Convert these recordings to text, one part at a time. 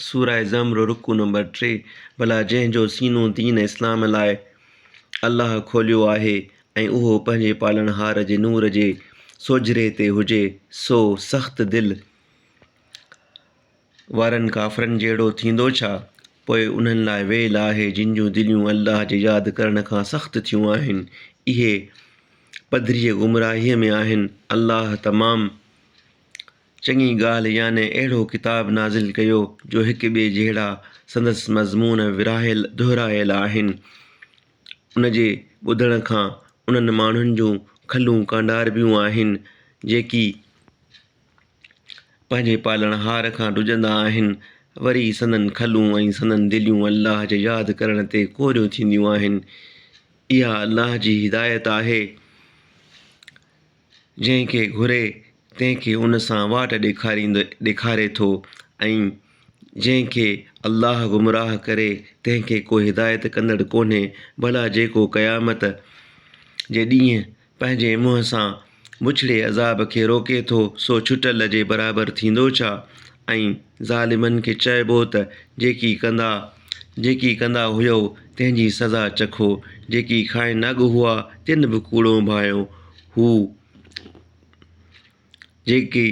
سوره زمر رڪوع نمبر ٽي ڀلا جنهن جو سينو دين اسلام لاء الله کوليو آهي ۽ اهو پنهنجي پالڻهار جي نور جي سوجهري تي هجي سو سخت دل وارن ڪافرن جهڙو ٿيندو ڇا؟ پوء انهن لاء ويل آهي جن جون دليون الله جي ياد ڪرڻ کان سخت ٿيون آهن. اهي پڌريء گمراهيء ۾ آهن. الله تمام چڱي ڳالهه يعني اهڙو ڪتاب نازل ڪيو جو هڪ ٻئي جهڙا سندس مضمون ورهايل دهرايل آهن. ان جي ٻڌڻ کان انهن ماڻهن جون کلون ڪانڊاربيون آهن جيڪي پنهنجي پالڻهار کان ڊڄندا آهن وري سندن کلون ۽ سندن دليون الله جي ياد ڪرڻ تي ڪوريون ٿينديون آهن. اها الله جي هدايت آهي. جنهن کي گهري تنهن کي ان سان واٽ ڏيکاريندو ڏيکاري ٿو ۽ جنهن کي الله گمراهه ڪري تنهن کي ڪو هدايت ڪندڙ ڪونهي ڀلا جيڪو قيامت جي ڏينهن پنهنجي منهن سان بڇڙي عذاب کي روڪي ٿو سو ڇٽل جي برابر ٿيندو ڇا ۽ ظالمن کي چئبو ته جيڪي ڪندا جيڪي ڪندا هيئو تنهن جي سزا چکو، جيڪي کائن ناڳ هئا تن به ڪوڙون ڀانئيو، هو جيڪي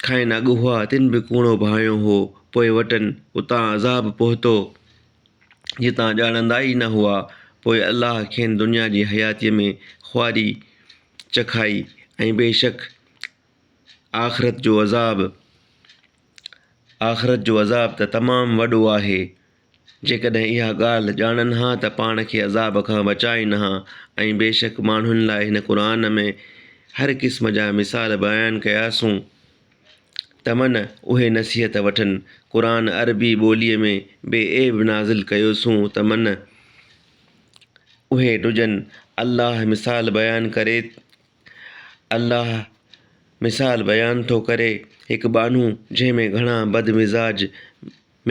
کائن ناڳ هئا تن به ڪوڙون ڀانئيو هو، پوء وٽن اتان عذاب پهتو جتان ڄاڻندا ئي نه هئا، پوء الله کين دنيا جي حياتيء ۾ خواري چکائي ۽ بيشڪ آخرت جو عذاب آخرت جو عذاب ته تمام وڏو آهي. جيڪڏهن اها ڳالهه ڄاڻن ها ته پاڻ کي عذاب کان بچائين ها ۽ بيشڪ ماڻهن لاء هن قرآن ۾ هر قسم جا مثال بيان ڪياسون ته من اهي نصيحت وٺن. قرآن عربي ٻوليء ۾ بي عيب نازل ڪيوسون ته من اهي ڊڄن. الله مثال بيان ڪري الله مثال بيان ٿو ڪري، هڪ ٻانهو جنهن ۾ گهڻا بدمزاج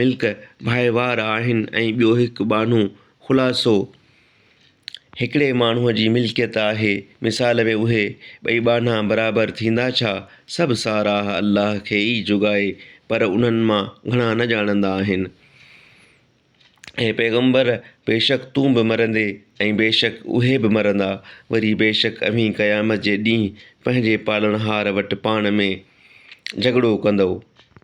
ملڪ ڀائيوار آهن ۽ ٻيو هڪ ٻانهو خلاصو هڪڙي ماڻهوء جي ملڪيت آهي، مثال ۾ اهي ٻئي ٻانها برابر ٿيندا ڇا؟ سڀ ساراهه الله کي ئي جوڳائي، پر انهن مان گهڻا نه ڄاڻندا آهن. اي پيغمبر! بيشڪ تون به مرندين ۽ بيشڪ اهي به مرندا، وري بيشڪ اوهين قيامت جي ڏينهن پنهنجي پالڻهار وٽ پاڻ ۾ جهڳڙو ڪندؤ.